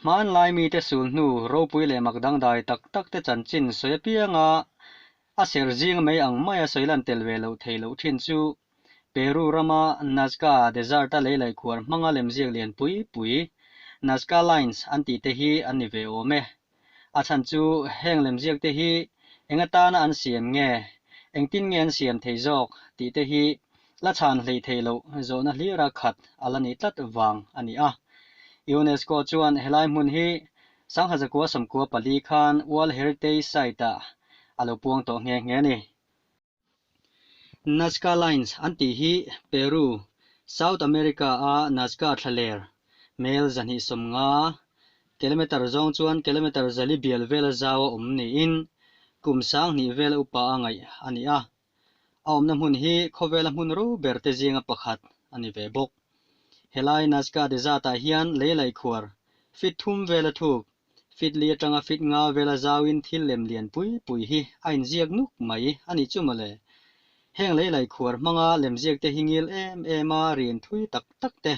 Hmanlai mite sul hnu ropui leh mak dangdai tak tak te chanchin sawi apiang a, a ser zing mai ang maia sawilan tel ve loh thei loh thin chu Peru rama Nazca Desert-a leilai khuar hmanga lemziak lian pui pui, Nazca Lines an tihte hi an ni ve awm e. A chhan chu heng lemziakte hi enga tana an siam nge, engtin nge an siam thei zawk tihte hi la chhan hlei thei loh zawhna hlira khat a la ni tlat vang a ni a. UNESCO chuan helai hmun hi Sangha Zakua Samkua pali khan World Heritage Site-ah a lo puang tawh nghe nghe a ni. Nazca Lines an tih hi Peru, South America a Nazca thlaler, hmel zahnih sawmnga, kilometre zawng chuan kilometre zali bial vela zau a awm niin kum sang hnih vela upa a ngaih a ni a. A awmna hmun hi khawvela hmun ro ber te zinga pakhat a ni ve bawk. Helai Nazca Desert-ah hian lei laih khuar, fitthum vela thuk Fitli atanga fit nga vela zauin thil lem lian pui pui hi a inziak nuk mai a ni chu mawle. Heng lei lai khuar hmanga lemziakte hi ngil em em a, rian thui tak tak te,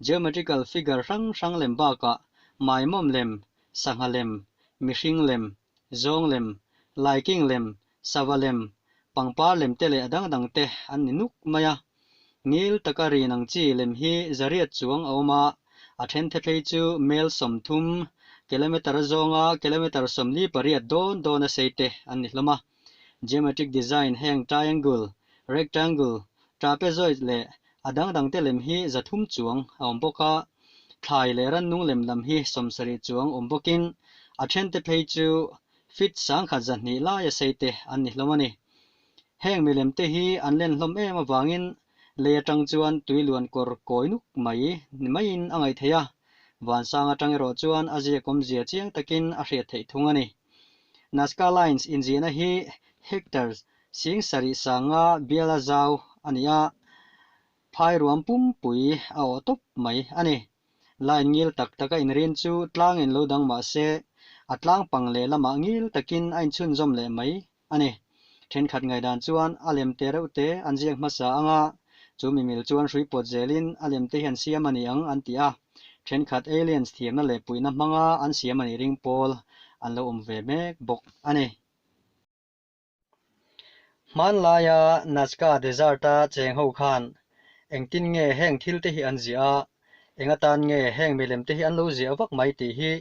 geometrical figure hrang hrang lem bakah maimawm lem, sangha lem, mihring lem, zawng lem, laikeng lem, Sava lem, pangpar lem te leh a dang dang te an ni nuk mai a. Ngil taka rin ang chi lem hi Zariat chuang a awm a, a then theplei chu mail sawmthum, kilometre a zawnga kilometre sawmli pariat dawn dawna sei te an ni hlawm a. Geometric design heng triangle, rectangle, trapezoid leh a dang dang te lem hi zathum chuang a awm bawk a. Thlai leh rannung lem lam hi sawmsarih chuang awm bawkin a then te phei chu Fit sangkhat zahnih laia seite an ni hlawm a ni. Heng milemte hi an len hlawm em avangin lei atang chuan tui luan kawr kawi nuk mai ni maiin a ngaithei a, vansang atang erawh chuan a ziakawm zia chiang takin a hriat theih thung a ni. Nazca Lines inziahna hi Hector Sing sarih sanga biala zau a ni a, phai ruam pumpui a awh tawp mai a ni. la in ngil tak tak a inrin chu tlang in lo dang mah se, a tlang pang leh lamah ngil takin a inchhunzawm leh mai a ni. Thenkhat ngaih dan chuan a lem te reuh te an ziak hmasa anga, chu mi mil chuan hrui pawt zelin a lem te hian siam a ni ang an ti a, thenkhat aliens thiamna leh puihna hmanga an siam a nih ring pawl an lo awm ve mek bawk a ni. Hmanlaia Nazca Desert-a cheng ho khan, engtin nge heng thil te hi an ziah a, enga tan nge heng milem te hi an lo ziah vak mai tih hi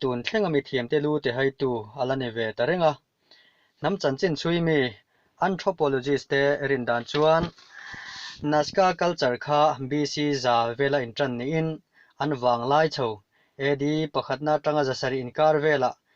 tun thlenga mithiamte lu ti haitu a la ni ve ta reng a. Hnam chanchinchhui mi anthropologist te rin dan chuan Nazca culture kha BC za vela intan niin an vang lai chho, AD pakhatna atanga zasarih inkar velah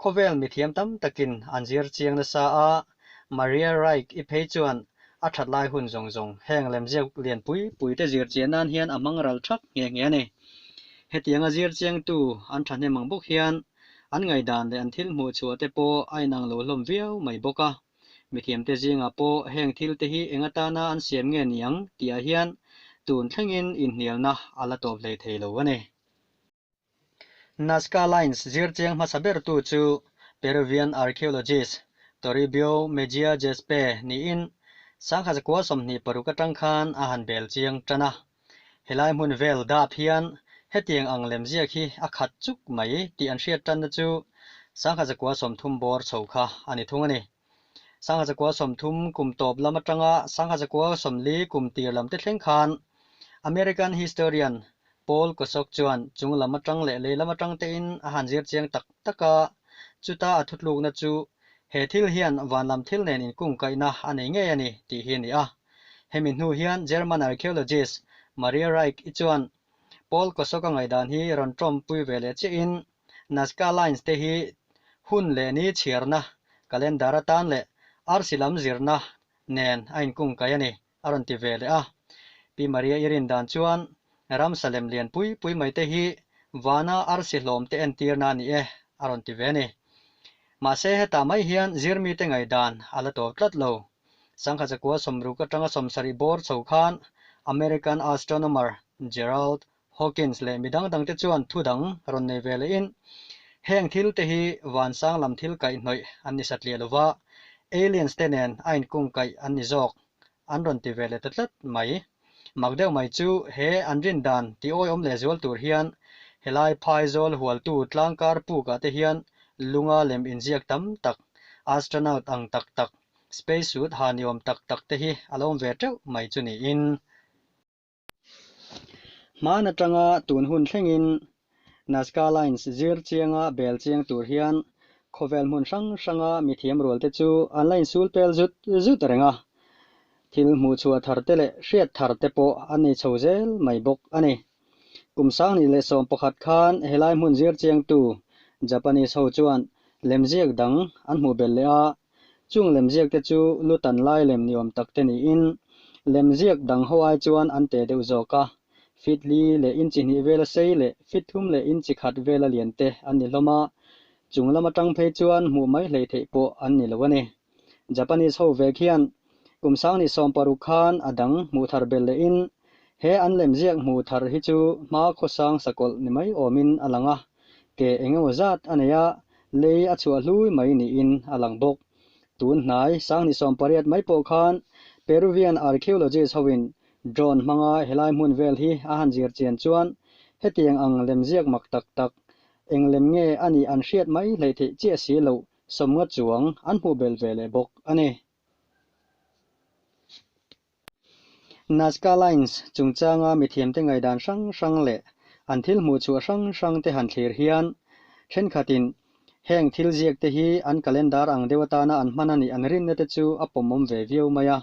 Khawvel mithiam tam takin an zir chiang nasa a, Maria Reich i phei chuan a that lai hun zawng zawng heng lemziak lian pui pui te zir chian nan hian a hmang ral thak nghe nghe a ni. Hetiang a zir chiang tu an thahnem ang bawk hian an ngaidan leh an thil hmuh chhuah te pawh a inang lo hlawm viau mai bawk a, mithiam te zingah pawh heng thil te hi eng atana an siam nge niang tihah hian tun thlengin inhnialna a la tawp hlei thei lo a ni. Nazca Lines zirchiang hmasa bertu chu Peruvian archaeologist Toribio Mejia Gezpe niin sangha zakua sawmhnih paruk atang khan a han bel chiang tan a. Helai hmun vel dap hian hetiang ang lem ziak hi a khat chuk mai tih an hriat tanna chu sangha zakua sawmthum bawr chho kha a ni thung a ni. Sangha Zakua sawmthum kum tawp lam atanga Sangha Zakua sawmli kum tir lam te thleng khan American historian Paul Kosok chuan chung lam atang leh lei lam atang te in a han zir chiang tak tak a, chuta a thutlukna chu he thil hian vanlam thil nen in kungkaihna a nei ngei a ni tih hi a ni a. Hemi hnu hian German archaeologist Maria Reich i chuan Paul Kosok a ngaihdan hi rawn tawmpui ve leh chiah in, Nazca Lines te hi hun leh ni chhiarna, calendar atan leh arsi lam zirna nen a inkungkai a ni a rawn ti ve leh a. Pi Maria i rin dan chuan, Ramsa lem lian pui pui mai te hi vana arsi hlawm te entirna a ni e a rawn ti ve a ni. Mahse hetah mai hian zir mite ngaih dan a la tawp tlat lo. Sangha chakua sawmruk atanga sawmsarih bawr chho khan American astronomer Gerald Hawkins leh mi dang dang te chuan thu dang rawn nei ve leh in, heng thil te hi van sang lam thil kaih hnawih an ni satliah lo va, aliens te nen a in kung kaih an ni zawk an rawn ti ve leh ta tlat mai. Mak deuh mai chu he an rin dan ti awi awm leh zual tur hian helai phaizawl hualtu tlangkar puk ah te hian lunga lem in ziak tam tak, astronaut ang tak tak, space suit ha ni awm tak tak te hi a lo awm ve teuh mai chu niin. Hman atanga tun hun thlengin Nazca Lines zir chianga bel chiang tur hian khawvel hmun hrang hranga mithiam rualte chu an la insul pel zut zut reng a, thil hmuhchhuah thar te leh hriat thar te pawh an nei chho zel mai bawk a ni. Kum sang nih leh sawm pakhat khan helai hmun zir chiangtu Japanese ho chuan lemziak dang an hmuh belh leh a, Chung lem ziak te chu lu tan lai lem ni awm tak te niin, lem ziak dang ho ai chuan an teh deuh zawk a. Fitli leh inchi hnih vela sei leh fithlum leh inchi khat vela lian te an ni hlawm a, chung lam atang phei chuan hmuh mai hlei theih pawh an ni lo a ni. Japanese ho vek hian Kum Sang ni sawm paruk khan a dang hmuh thar ber leh in he an lem ziak hmuh thar hi chu hma khawsang sakawlh ni mai awm in a lang a, ke eng emaw zat a nei a lei a chhuah hlui mai ni in a lang bawk. Tun hnai Sang ni sawm pariat mai pawh khan Peruvian archaeologist ho in drone hmanga he lai hmun vel hi a han zir chian chuan hetiang ang lem ziak mak tak tak eng lem nge a nih an hriat mai hlei theih chiah si lo sawmnga chuang an hmuh bel ve leh bawk a ni. Nazca Lines chungchanga mithiamte ngaidan hrang hrang leh an thil hmuhchhuah hrang hrangte han thlir hian, thenkhatin heng thil ziakte hi an calendar ang deuh atana an hman a nih an rinnate chu a pawmawm ve viau mai a.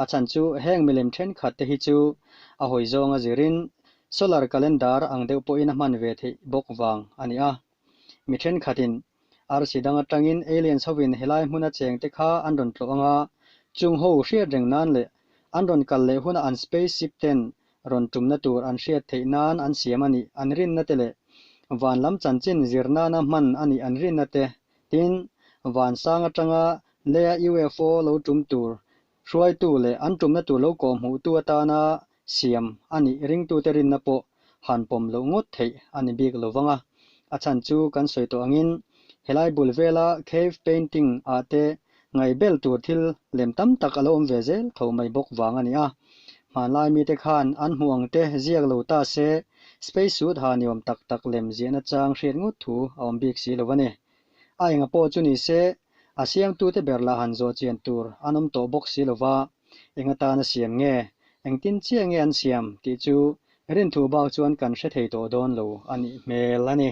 A chhan chu heng milem thenkhatte hi chu a hawi zawnga zirin solar calendar ang deuh pawhin a hman ve theih bawk vang a ni a. Mi thenkhatin arsi dang atangin aliens hovin helai hmuna cheng te kha an rawn tlawh anga chung ho hriat reng nan leh an rawn kal leh huna an space ship ten rawn tumna tur an hriat theih nan an siam a ni an rinna te leh van lam chanchin zir nana hman a ni an rinna te tin vansang atanga lea UFO lo tum tur Hruaitu leh an tumna tur lo kawh hmuh tu atana siam a nih ringtute rinna pawh han pawm loh ngawt theih a ni bik lo vang a, a chhan chu kan sawi tawh angin helai bul vela cave painting ah te ngaih bel tur thil lem tam tak a lo awm ve zel tho mai bawk vang a ni a, hmanlai mite khan an hmuh ang te ziak lo ta se space suit ha ni awm tak tak lem ziahna chang hriat ngawt thu a awm bik si lo va ni, A enga pawh chu ni se, a siamtute ber lah han zawh chian tur an awm tawh bawk si lova, enga tan a siam nge, engtin chiah nge an siam tih chu Rinthu bak chuan kan hre thei tawh dawn lo a nih hmel a ni.